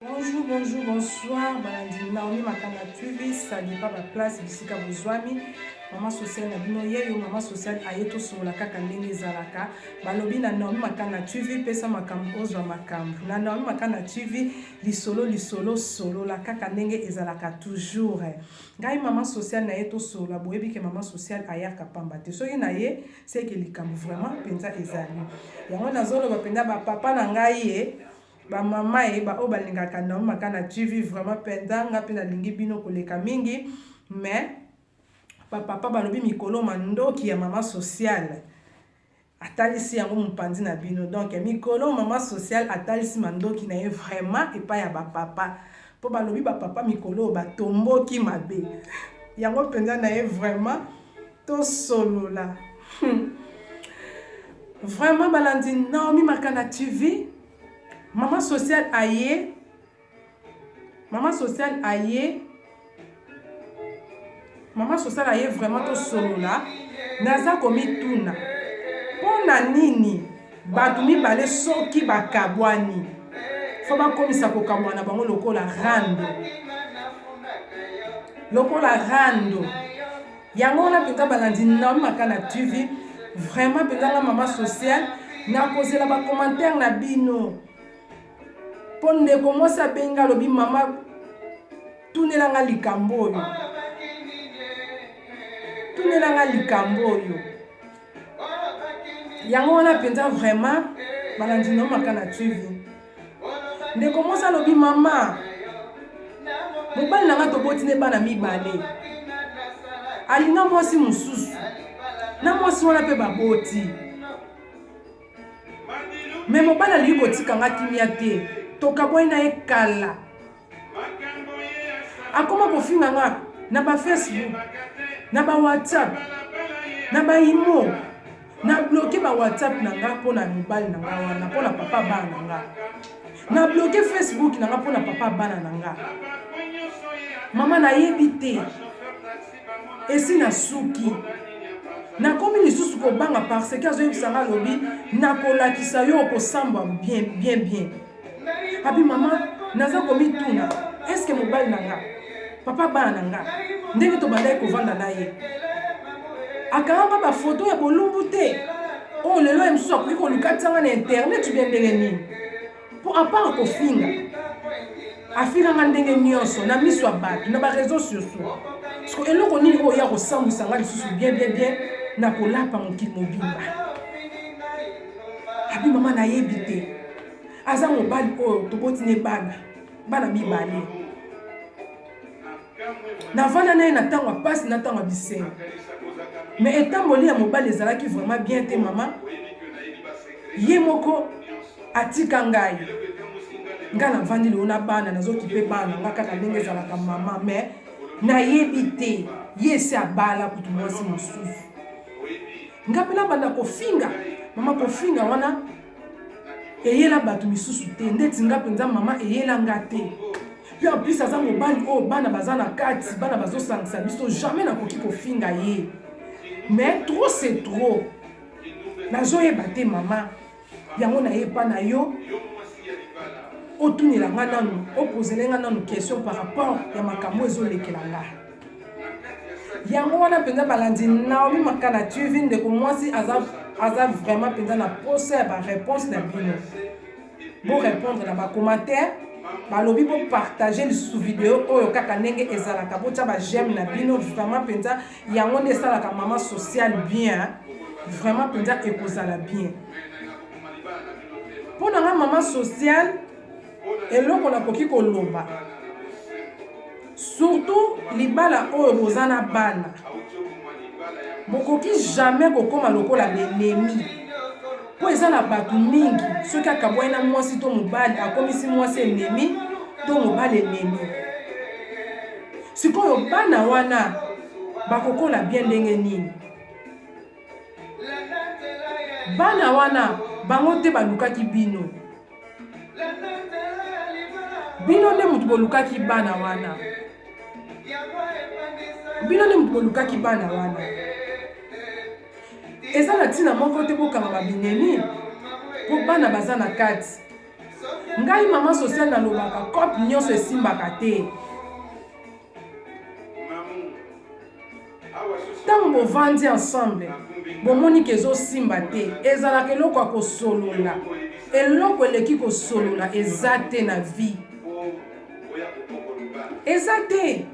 Bonjour, bonjour, bonsoir, balandi Naomi Makanga TV, salut pas ba place bisika bozwami. Maman sociale na bino yeyo, maman sociale aye tosolola kaka ndenge ezalaka. Balobi na Naomi Makanga TV pesa makambo ozwa makambo. Na Naomi Makanga TV lisolo lisolo solola kaka ndenge ezalaka toujours. Ngai maman sociale na ye tosolola boyebi ke maman sociale ayaka pamba te. Soki na ye seke likambo vraiment penza ezali. Yango nazoloba penza ba papa na ngai ye Ba mamae ba oyo balingaka Naomi Makana TV vraiment penza nga pe nalingi bino koleka mingi mais ba papa balobi mikolo mandoki ya mama sociale atalisi yango mopanzi na bino donc mikolo mama sociale atalisi mandoki na ye vraiment epai ya ba papa mpo balobi ba papa mikolo oyo batomboki mabe yango mpenza na ye vraiment tosolola hmm. vraiment balandi naomi makanda tv mama social aye mama social aye mama social aye vraiment tosolola naza komituna mpo na nini bato mibale soki bakabwani fo bakomisa kokabwana bango lokola rando lokola rando Yango wana mpenza balandi na maka na TV vraiment mpenza nga mama sociale nakozela bacommentaire na bino mpo ndeko mwasi abengi alobi mama tunela nga likambo oyo tunela nga likambo oyo yango wana mpenza vraiment balandi na maka na TV ndeko mwasi alobi mama mobali na ngai toboti ne bana mibale alinga mwasi mosusu na mwasi wana mpe baboti me mobali alingi kotika nga kimia te tokabwani na ye kala akoma kofinga nga na ba facebook na ba whatsapp na ba imo na bloke ba whatsapp na nga mpo na mibali na nga wana mpo na papa bana na nga na bloke facebook na nga mpo na papa bana na nga mama nayebi te esi nasuki nakomi lisusu kobanga parce que azoyebisa nga alobi nakolakisa yo okosambwa bien bien bien abi mama naza komituna eske mobali na nga papa bana na nga ndenge tobandaki kovanda na ye akangaka bafoto ya bolumbu te oyo oh, lelo ye mosusu akoki kolukatisa nga na internet bya ndenge nini mpo apart kofinga afinganga ndenge nyonso na miso ya bato na bareseau sociaux siko eloko nini oyo ya kosambwisa nga lisusu bien bien bien na kolapa mokili mobimba abi mama nayebi te aza mobali oyo toboti ne bana bana mibale navanda na ye na ntango ya mpasi na ntango ya bisengo me etamboli ya mobali ezalaki vraiment bien te mama ye moko atika ngai ngai navandi lelo na bana nazokipe bana nga kaka ndenge ezalaka mama me nayebi te ye esi abala kutu mwasi mosusu ngai mpe nabanda kofinga mama kofinga wana eyela bato misusu te ndeti nga mpenza mama eyela nga te mpe en plus aza mobali oyo oh, bana baza na kati bana bazosangisa biso jamais nakoki kofinga ye mais trop c'est trop nazoyeba te mama yango nayepa na yo otunela nga nanu opozele nga nanu question par rapport ya makambo ezolekela nga yango wana mpenza balandi naomi makana tv ndeko mwasi aza, aza vraiment mpenza na posa ya bareponse na bino borépondre na bacommentaire balobi bopartage lisusu video oyo kaka ndenge ezalaka botya bajeme na bino vraiment mpenza yango nde esalaka mama sociale bien vraiment mpenza ekozala bien mpo na nga mama sociale eloko nakoki koloba surtout libala oyo boza na bana bokoki jamais kokóma lokola benemi mpo eza na bato mingi soki akabwani na mwasi to mobali akomisi mwasi enemi to mobali enemi sikoyo bana wana bakokola bien ndenge nini bana wana bango te balukaki bino bino nde moto bolukaki bana wana bino nde moto bolukaki bana wana eza na ntina moko te bokanga babinemi mpo bana baza na kati ngai mama social nalobaka cope nyonso esimbaka te ntango bovandi ensemble bomoni ke ezosimba te ezalaka eloko ya kosolola eloko eleki kosolola eza te na vie eza te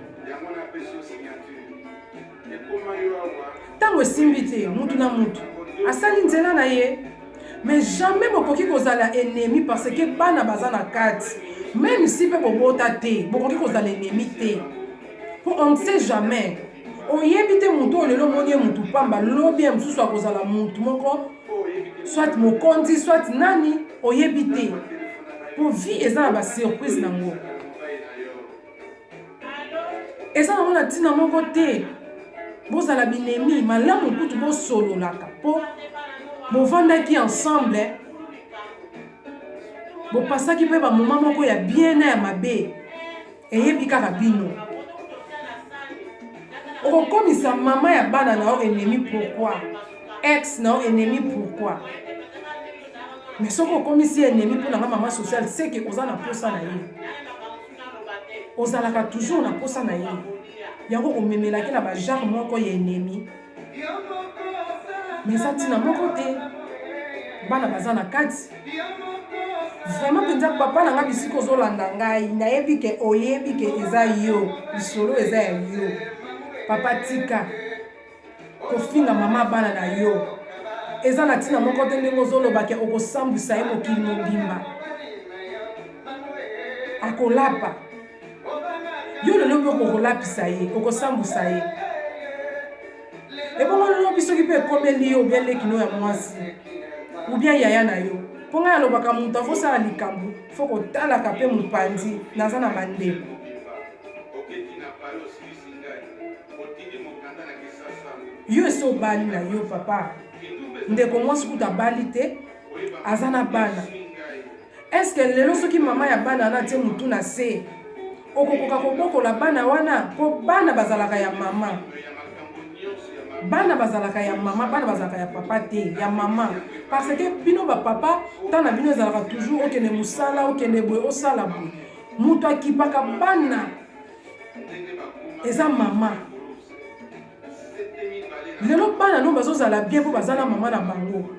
Ntango esimbi te, mutu na mutu asali nzela na ye, mais jamais bokoki kozala ennemi parce que bana baza na kati. Meme si pe bobota te, bokoki kozala ennemi te. Po on ne sait jamais. Oyebi te mutu oyo lelo omoni ye mutu pamba, lobi ya mosusu akozala mutu moko soit mokonzi soit nani, oyebi te. Po vie eza na ba surprise na ngo. eza nango na ntina moko te bozala binemi malamu kutu bosololaka mpo bovandaki ensemble bopasaki mpe bamoma moko ya bien na ya mabe eyebi kaka bino okokomisa mama ya bana na yo enemi pourkui ex na yo enemi pourkui mais soki okomisi enemi mpo na nga mama sociale seke oza na mposa na ye ozalaka toujours na posa na ye yango omemelaki na bagenre moko ya enemi me eza ntina moko te bana baza na kati vraiment mpenza papa na ngai bisika ozolanda ngai nayebi ke oyebi ke eza yo lisolo eza ya yo papa tika kofinga mama bana na yo eza na ntina moko te ndenge ozoloba ke okosambwisa ye mokili mobimba akolapa yo lelo mpe okolapisa ye okosambwisa ye ebongo lobi soki mpe ekomeli yo obia lekino ya mwasi obia yaya na yo mpo ngai alobaka moto akosala likambo fo kotalaka mpe mopanzi naza na bandeko yo esi obali na yo papa ndeko mwasi kutu abali te aza na bana eske lelo soki mama ya bana wana atie motu na se okokoka kobokola bana wana mpo bana bazalaka ya mama bana bazalaka ya mama bana bazalaka ya papa te ya mama parce que bino bapapa ntango na bino ezalaka toujours okende mosala okende boye osala boye moto akipaka bana eza mama lelo bana no bazozala bien mpo baza na mama na bango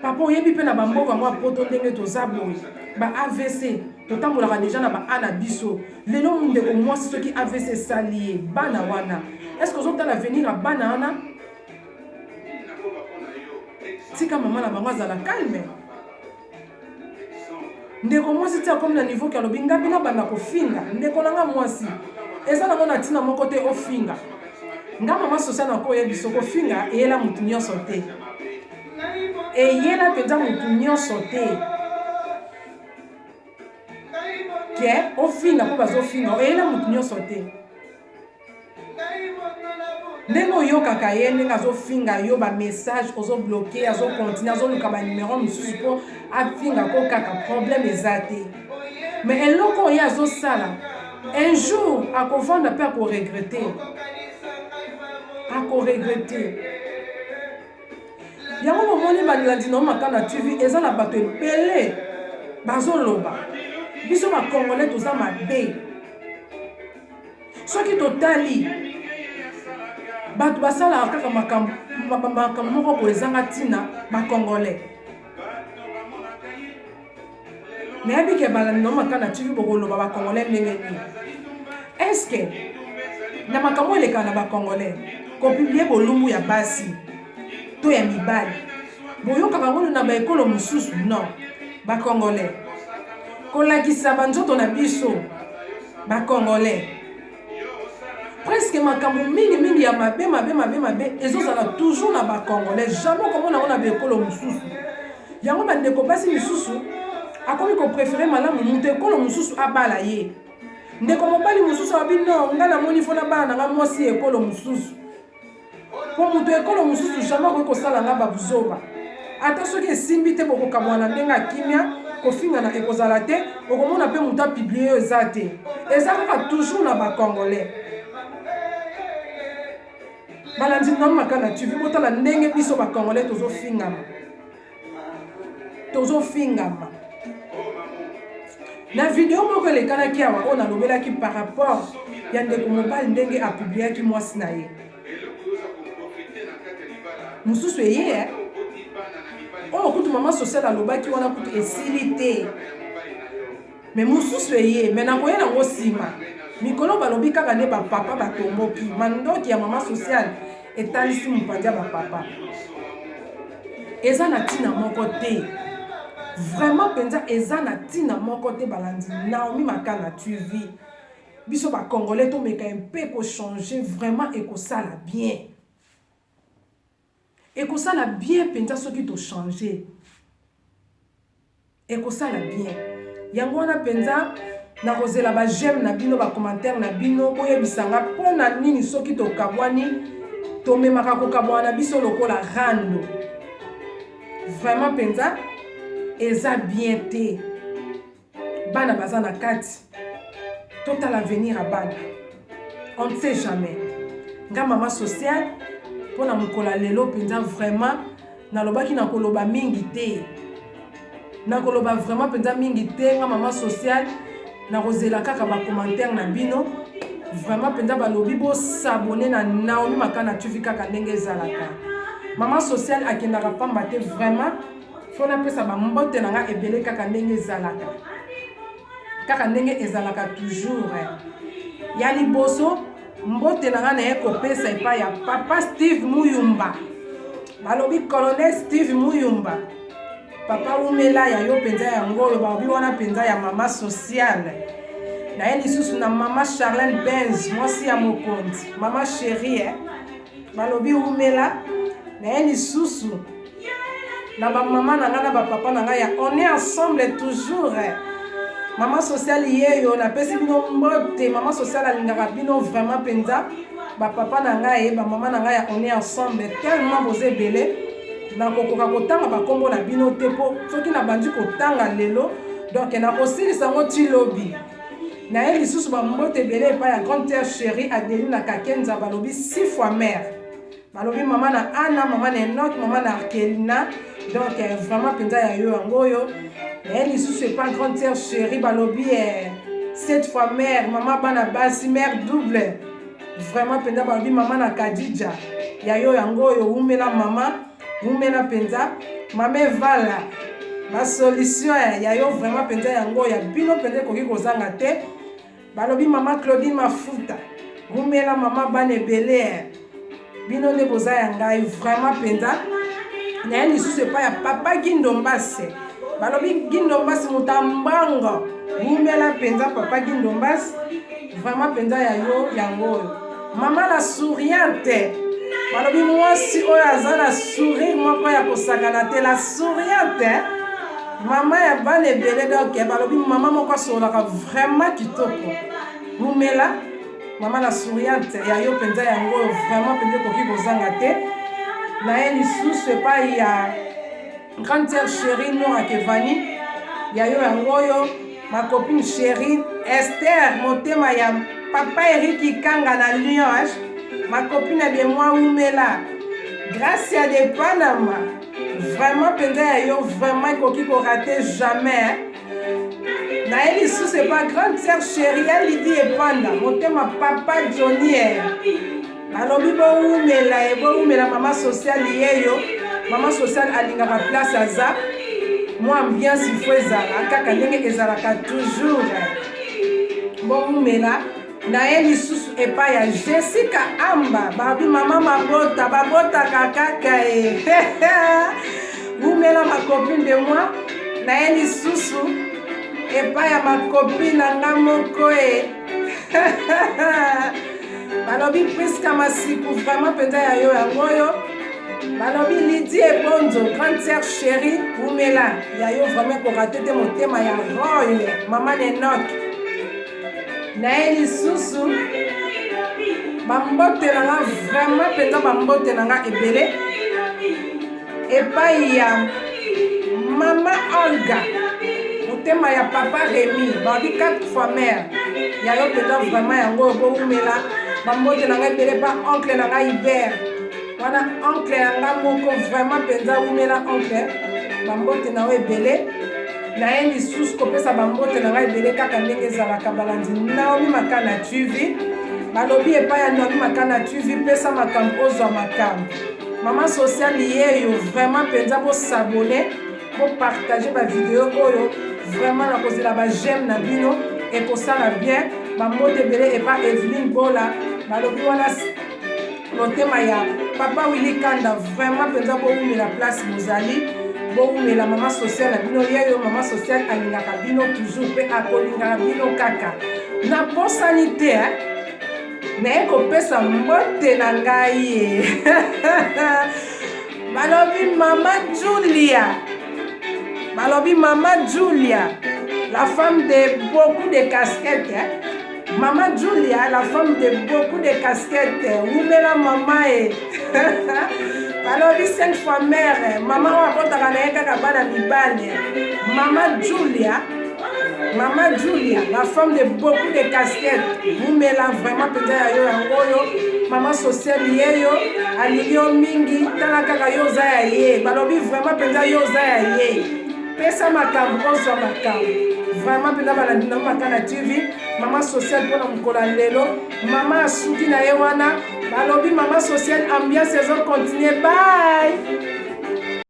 papa oyebi mpe na bamboka yango ya poto ndenge toza boye ba avc totambolaka deja na ba a na biso lelo ndeko mwasi soki avc esali ye bana wana estce ozotala avenir ya bana wana tika mama na bango azala calme ndeko mwasi ti akomi na niveau ke alobi nga bino banda kofinga ndeko na nga mwasi eza nango na ntina moko te ofinga nga mama sosia na koya biso kofinga eyela motu nyonso te eyela mpenza motu nyonso te ke ofinga mpo bazofinga eyela motu nyonso te ndenge oyokaka ye ndenge azofinga yo bamessage ozobloke azokontinue azoluka banimero mosusu mpo afinga ko kaka problème eza te me eloko oyo azosala un jour akovanda mpe akoregrete akoregrete yango bomoni balandi nao maka na tv eza na bato ebele bazoloba biso bakongole toza mabe soki totali bato basalaka kaka makambo makambo moko boye ezanga ntina bacongolais nayebi ke balandi na mata na tv bokoloba bacongolais ndenge nini eske na makambo elekaka na bacongolais kopiblie bolumbu ya basi to ya mibali boyokaka ngolo na baekolo mosusu non bacongolais kolakisa banzoto na biso ba congolais presque makambo mingi mingi ya mabe mabe mabe mabe ezozala toujours na ba congolais jamais okomona yango na baekolo mosusu yango bandeko basi misusu akomi koprefere malamu moto ekolo mosusu abala ye ndeko mobali mosusu abi no ngai namoni fona bana na ngai mwasi ekolo mosusu mpo moto ya ekolo mosusu jamai akoki kosala nga babuzoba ata soki esimbi te bokokamwa na ndenge ya kimia kofingana ekozala te okomona mpe moto apiblie yo eza te eza kaka toujours na bacongolais balandi nano makana tv botala ndenge biso bacongolais tozofingana tozofingama na video moko elekanaki awa oyo nalobelaki par rapport ya ndeko mobali ndenge apubliaki mwasi na ye mosusu eye eh? oyo oh, kutu mama social alobaki wana kutu esili te Mais mususu eye mais nakoya nango sima. Mikolo balobi kaka nde ba papa batomboki. Mandoki ya mama sociale etalisi mupandia ba papa. Eza na tina moko te. Vraiment penza eza na tina moko te balandi. Naomi Makala tu vis. Biso ba congolais tomeka un peu ko changer vraiment ekosala bien. Ekosala bien penza soki to changer. Ekosala bien. Yango wana penza nakozela ba j'aime na bino ba commentaire na bino boyebisa nga pona nini soki tokabwani tomemaka kokabwana na biso lokola rando. Vraiment penza eza bien te. bana baza na kati totala avenir ya bana on ne sait jamais nga mama sociale mpo na mokolo ya lelo mpenza vraiment nalobaki nakoloba mingi te nakoloba vraiment mpenza mingi te nga mama sociale nakozela kaka bacommentaire na bino vraiment mpenza balobi bosabone na naomi makana tuvi kaka ndenge ezalaka mama sociale akendaka mpamba te vraiment fo napesa bambote na nga ebele kaka ndenge ezalaka kaka ndenge ezalaka toujours eh. ya liboso mbote na nga naye kopesa epai ya papa steve muyumba balobi colonel steve muyumba papa wumela ya yo mpenza yango oyo balobi wana mpenza ya mama sociale naye lisusu na mama charlene benz mwasi ya mokonzi mama cherie eh. nalobi wumela naye lisusu na bamama na ngai na bapapa na ngai ya on est ensemble toujours mama sociale yeyo napesi bino mbote mama sociale alingaka bino vraiment mpenza bapapa na ngai bamama na ngai ya on est ensemble tellement boza ebele nakokoka kotanga bakombo na bino te mpo soki nabandi kotanga lelo donk nakosilisa yango ti lobi naye lisusu bambote ebele epai ya grande terre chérie adelina kakenza balobi six fois mare balobi mama na ana mama na enoke mama na arkelina donc eh, vraiment mpenza ya yo yango oyo naye lisusu epai grande terre chérie balobi eh, cette fois mare mama bana basi mare double vraiment mpenza balobi mama na kadija ya yo yango oyo wumela mama Wumela mpenza mama evala basolution ya yo vraiment mpenza yango ya bino mpenza ekoki kozanga te balobi mama claudine mafuta wumela mama bana ebele bino nde boza ya ngai vraiment mpenza naye lisusu epai ya papa gindombase balobi gindombase moto ya mbango wumela mpenza papa gindombase vraiment mpenza ya yo yango oyo Mama na souriante balobi mwasi oyo aza na sourire moko ya kosakana te la souriante mama ya bana ebele donk balobi mama moko asololaka vraiment kitoko mumela mama na souriante ya yo mpenza yango oyo vraiment mpenza ekoki kozanga te naye lisusu epai ya Grande sœur chérie Nora Kevani ya yo yango oyo ma copine chérie Esther motema ya papa Eric Ikanga na Lyon ma copine de moi Umela Gracia de Panama vraiment mpenza ya yo vraiment ekoki korate jamais naye lisusu epa grande sœur chérie ya lidi epanda motema papa jonier nalobi bowumela ye bowumela mama sociale yeyo mama sociale alingaka place aza mwa ambiance ifo ezala kaka ndenge ezalaka toujours bowumela naye lisusu epai ya jessica amba babi mama mabota babotaka kaka e wumela macopine de moi naye lisusu epai ya macopine na nga moko e balobi priska masiku vraiment mpenza ya yo yango oyo balobi lidi ebonzo grande sœur chérie wumela ya yo vraiment korate te motema ya roy mama nenok naye lisusu bambote na nga vraiment mpenza bambote na nga ebele epai ya mama olga motema ya papa remi babi 4 fois mare ya yo mpenza vraiment yango oyo bowumela bambote na nga ebele ba oncle na nga hiver wana oncle ya nga moko vraiment mpenza wumela oncle bambote na yo ebele naye lisusu kopesa bambote na ngai ebele kaka ndenge ezalaka balandi naomi maka na tv balobi epai ya naomi maka na tv pesa makambo ozwa makambo mama social yeyo vraiment mpenza bosabone bopartage bavideo oyo vraiment nakozela bajeme na bino ekosala bien bambote ebele epa eveline bola balobi wana motema ya papa wili kanda vraiment mpenza bowumela place bozali bowumela mama social na bino yeyo mama social alingaka bino toujours mpe akolingaka bino kaka nabosani te eh? naye kopesa mbote na ngai ye balobi mama julia balobi mama julia la femme de beaucoup de casquette eh? Maman Julia, la femme de beaucoup de casquettes. Wumela maman e. balobi cinq fois mère mama oyo abotaka na ye kaka bana mibale mama julia mama julia la femme de beaucoup de casquette mumela vraiment mpenza ya yo yango oyo mama sociale ye yo alingi yo mingi tala kaka yo oza ya ye balobi vraiment mpenza yo oza ya ye pesa makambo ozwa makambo vraiment mpena balandi na maka na tv mama social mpona mokolo ya lelo mama asuki na ye wana balobi mama social ambiance ezokontinue bai